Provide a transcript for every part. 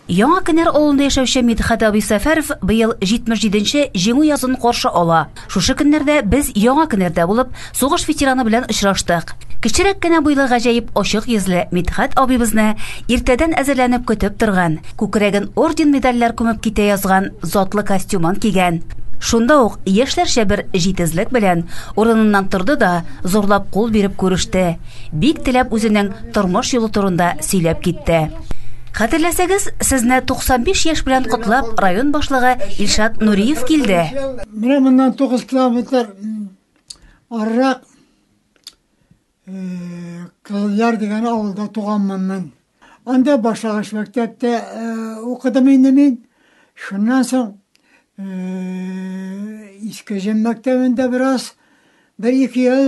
Яңа Кенәр авылында яшәүче Мидхәт абый Сәфәров быел 77 нче Җиңү язын каршы ала. Шушы көннәрдә без Яңа Кенәрдә булып, сугыш ветераны белән очраштык. Кечерәк кенә буйлы гаҗәеп ачык йөзле Мидхәт абыйбызны иртәдән әзерләнеп көтеп торган, күкрәген орден-медальләр күмеп китә язган затлы костюмын кигән. Шунда ук яшьләрчә бер җитезлек белән урыныннан торды да, зурлап кул биреп күреште. Бик теләп үзенең тормыш юлы турында сөйләп китте. Хәтерләсәгез, сезне 95 яшь белән котлап район башлыгы Илшат Нуриев килде. Менә моннан 9 километр арырак Кызылъяр дигән авылда туганмын мин. Анда башлангыч мәктәптә укыдым инде мин. Шуннан соң Иске Җем мәктәбендә бераз, бер-ике ел.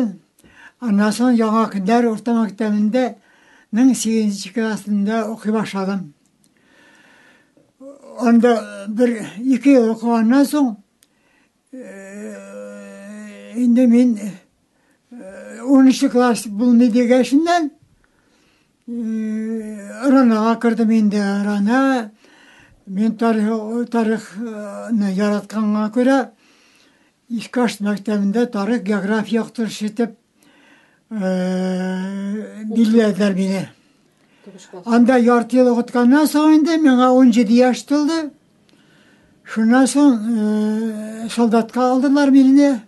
Аннан соң Яңа Кендәр урта мәктәбендә 18 классында укый башладым. Анда бер-ике ел укыганнан соң Инде мин унынчы класс булмый дигәшеннән Ранага кердем инде. Рана мин тарих тарихны яратканга күрә Искаш мәктәбендә тарих география яктырышы итеп билләделәр мине. Анда ярты ел укытканнан соң инде миңа 17 яшь тулды. Шуннан соң солдатка алдылар мине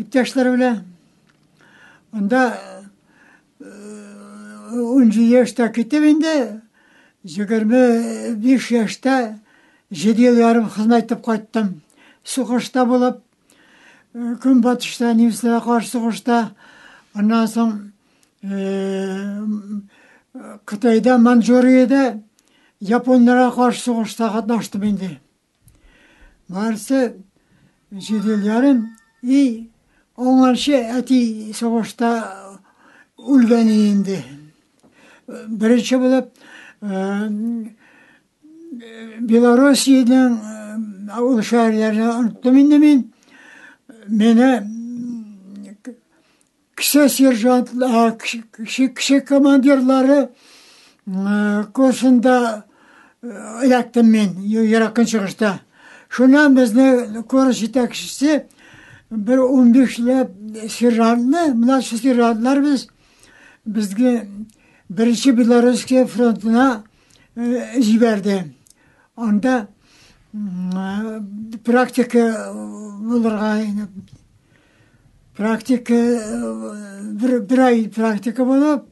иптәшләр белән. Анда 10 яшьтә китеп инде 25 яшьтә 7 ел ярым хезмәт итеп кайттым. Сугышта булып Көнбатышта немецларга каршы сугышта, аннан соң Кытайда, Манчжуриядә японнарга каршы сугышта катнаштым инде. Барысы җиде ел ярым и оңанчы әти сугышта үлгән инде. Беренче булып Белоруссиянең авыл шәһәрләрен оныттым инде мин. Менә кеше сержант, кеше, кеше командирлары курсында эләктем мин Еракын чыгышта. Шуннан безне курс җитәкчесе бер 15 ләп сержантны, младший сержантлар без безгә беренче Белорусская фронтына җибәрде. Анда практика булырга практика бер, бер ай практика булып,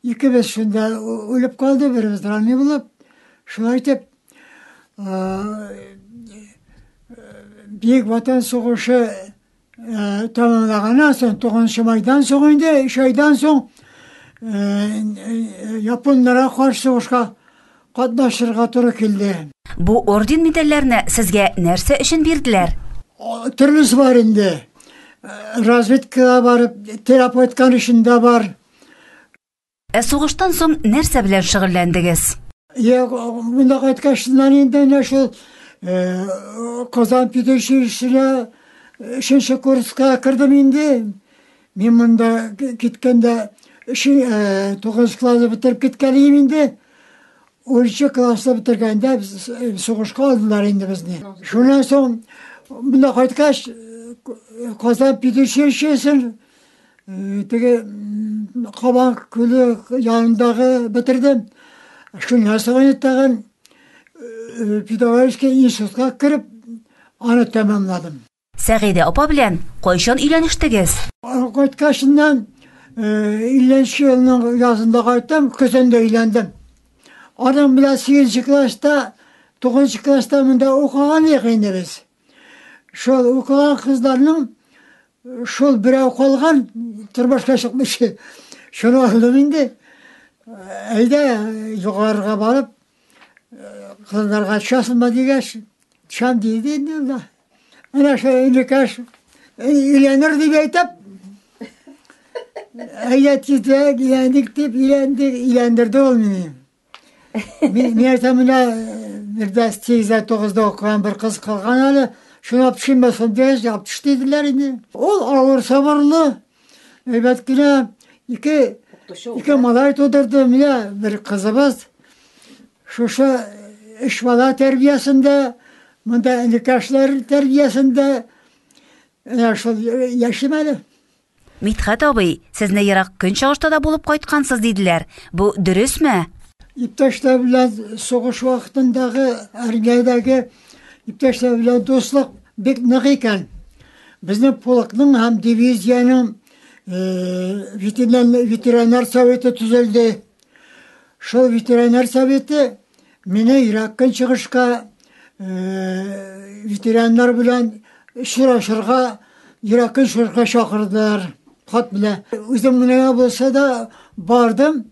икебез шунда үлеп калды, беребез ранный булып. Шулай итеп, Бөек Ватан сугышы Тәмамлаганнан соң, тугызынчы майдан соң инде, өч айдан соң японнарга каршы сугышка катнашырга туры килде. Бу орден-медальләрне сезгә нәрсә өчен бирделәр? Төрлесе бар инде. Разведкага барып, терапевтканың эшендә бар. Ә сугыштан соң нәрсә белән шөгыльләндегез? Я монда кайткач, инде менә шул Казан педучилищесына өченче курска кердем инде. Мин монда киткәндә тугызынчы класс бетереп киткән идем инде. Унынчы класны бетергәндә сугышка алдылар инде безне. Шуннан соң монда кайткач, Казан педучилищесын Теге Кабан күле янындагы бетердем. Шуннан соң тагын педагогический институтка кереп, аны тәмамладым. Сәгыйдә апа белән кайчан өйләнештегез? Кайткачыннан, 50 елның язында кайттым, көзендә өйләндем. Аның белән 8 класста, 9 класста монда укыган идек инде без. Шул укыган кызларның шул берәү калган тормышка чыкмыйча. Шуны алдым инде. Әйдә югарыга барып кызларга часынма дигәч, чан диде инде ул да. Менә шул инекәш өйләнер дип әйтеп, әйдә тизрәк өйләндек дип өйләндек, өйләндерде ул мине. Мин нәрсә менә бердә 8-9-да укыган бер кыз калган әле, шуны апшыйма сондеш, апш диделәр инде. Ул авыр сабырлы, әйбәт кенә ике ике малай тудырды, менә бер кызыбыз шушы эш бала тәрбиясендә, монда энекәшләр тәрбиясендә, менә шул яшим әле. Мидхәт абый, сезне ерак көнчыгышта да булып кайткансыз диделәр. Бу дөресме? Иптәшләр белән сугыш вакытындагы Армиядәге иптәшләр белән дуслык бик нык икән. Безнең полкның һәм дивизиянең ветеринар советы төзелде. Шул ветеринар советы Менә Ирак көнчыгышка ветераннар белән очрашырга Ирак көнчыгышка чакырдылар. Хат белән. Үзем генә булса да бардым.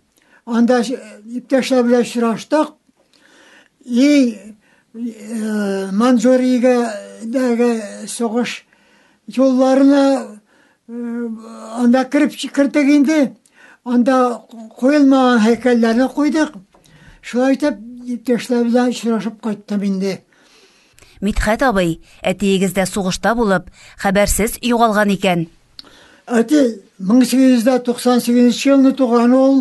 Анда иптәшләр белән очраштык. И Манзуригә дәге сугыш юлларына Анда кереп чикердек инде. Анда куелмаган һәйкәлләрне куйдык. Шулай итеп, иптәшләр белән очрашып кайттым инде. Мидхәт абый, әтиегез дә сугышта булып, хәбәрсез югалган икән. Әти 1898 елны туган ул.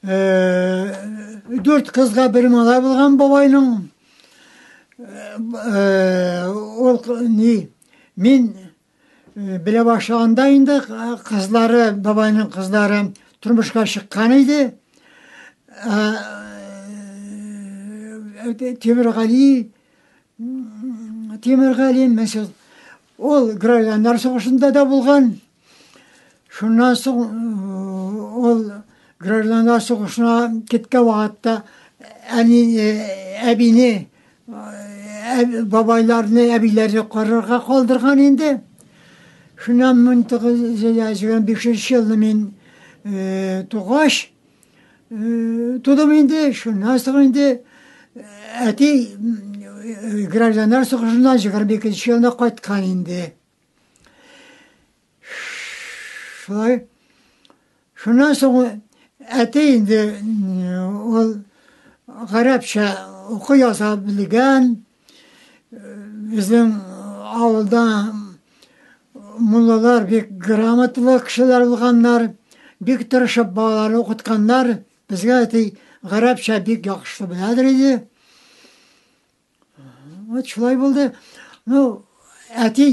Дүрт кызга бер малай булган бабайның. Ул ни, мин Э, белә башлаганда инде э, кызлары, бабайның кызлары тормышка чыккан иде. Э, Тимиргали, Тимиргали, мәсәл, ул гражданнар сугышында да булган. Шуннан соң ул гражданнар сугышына киткән вакытта әни әбине Бабайларны, әбиләрне карарга калдырган инде. Шуннан 1985 елны мин тугач, тудым инде, шуннан соң инде әти гражданнар сугышыннан 22 елына кайткан инде. Шулай. Шуннан соң әти инде ул гарәпчә укый яза белгән. Безнең авылда муллалар бик грамоталы кешеләр булганнар, бик тырышып балаларны укытканнар. Безгә әти гарәпчә бик яхшы беләдер иде. Вот шулай булды. Ну, әти,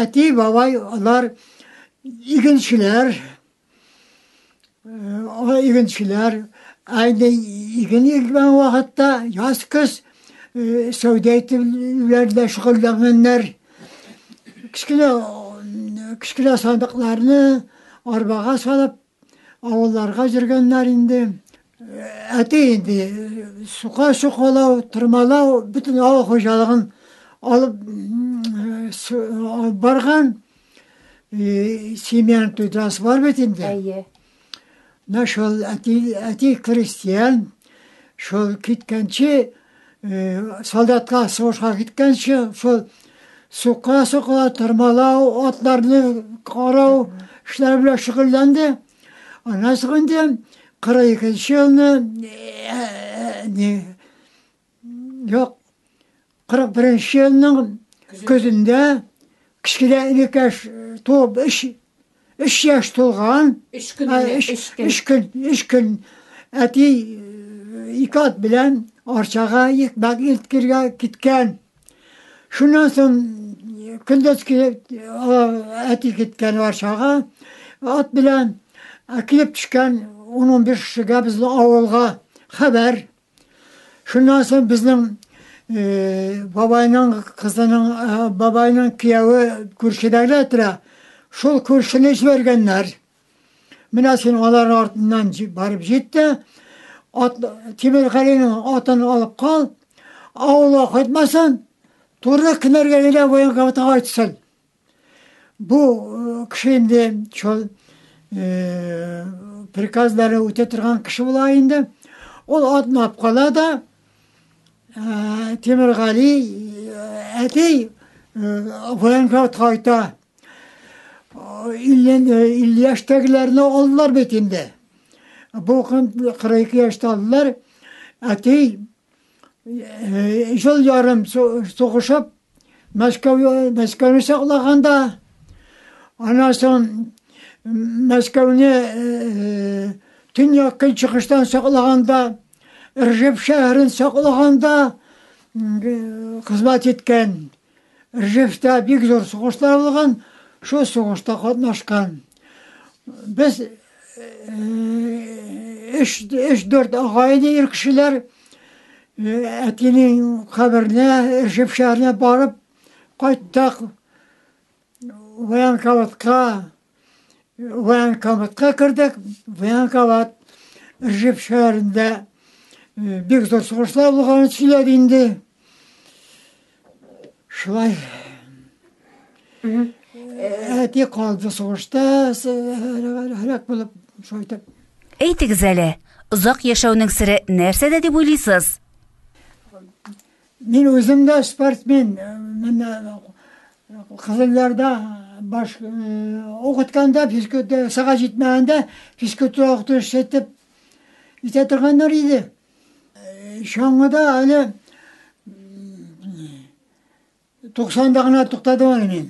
әти, бабай, алар игенчеләр, алар игенчеләр, әйне иген игмән вакытта яз көз сәүдә итүләр дә шөгыльләнгәннәр. Кечкенә кечкенә сандыкларны арбага салып Авылларга җөргәннәр инде. Әти инде сука чукалау, тырмалау, бөтен авыл хуҗалыгын алып барган. Семьяны тудырасы бар бит инде. Әйе. Менә шул әти, әти крестьян, шул киткәнче Солдатка сугышка киткәнче шул сука-сука тырмалау, атларны карау эшләре белән шөгыльләнде. Аннан соң инде 42 елны не юк 41 елның көзендә кечкенә инекәш туып эш Өч яшь тулган. Өч көн генә, өч көн. Өч көн, өч көн. Әти ике ат белән Арчага икмәк илткергә киткән. Шуннан соң көндез килеп, әти киткән Арчага ат белән. Ә килеп төшкән 10-15 кешегә безнең авылга хәбәр. Шуннан соң безнең бабайның кызының бабайның кияүе күршедәге тора. Шул күршене җибәргәннәр. Менә син алар артыннан барып җит тә, ат Тимергалинең атын алып кал, авылга кайтмасын, туры кенәргә генә военкоматга кайтсын. Бу кеше инде шул приказлары үтә торган кеше була инде. Ул атнап кала да Тимиргали әти военкорт кайта. 50 яшьтәгеләрне алдылар бит инде. Бу 42 яшьтә алдылар. Әти Ел ярым сугышып, Мәскәү Мәскәүне саклаганда, аннан соң Мәскәүне төньяк көнчыгыштан саклаганда, Ржев шәһәрен саклаганда хезмәт иткән. Ржевта бик зур сугышлар булган, шул сугышта катнашкан. Без өч, өч дүрт ага иде ир кешеләр. Әтинең каберенә, Ржев шәһәренә барып кайттык. Военкоматка, военкоматка кердек, военкомат Ржев шәһәрендә э, бик зур сугышлар булганын сөйләде инде. Шулай әти калды сугышта, һәлак булып, шулай итеп. Әйтегез әле, озак яшәүнең сере нәрсәдә дип уйлыйсыз? Мин үзем дә спортсмен. Мин Кызылъярда баш укытканда, физкульт сага җитмәгәндә, физкульт укытучысы итеп итә торганнар иде. Чаңгыда әле 90-да гына туктадым әле мин.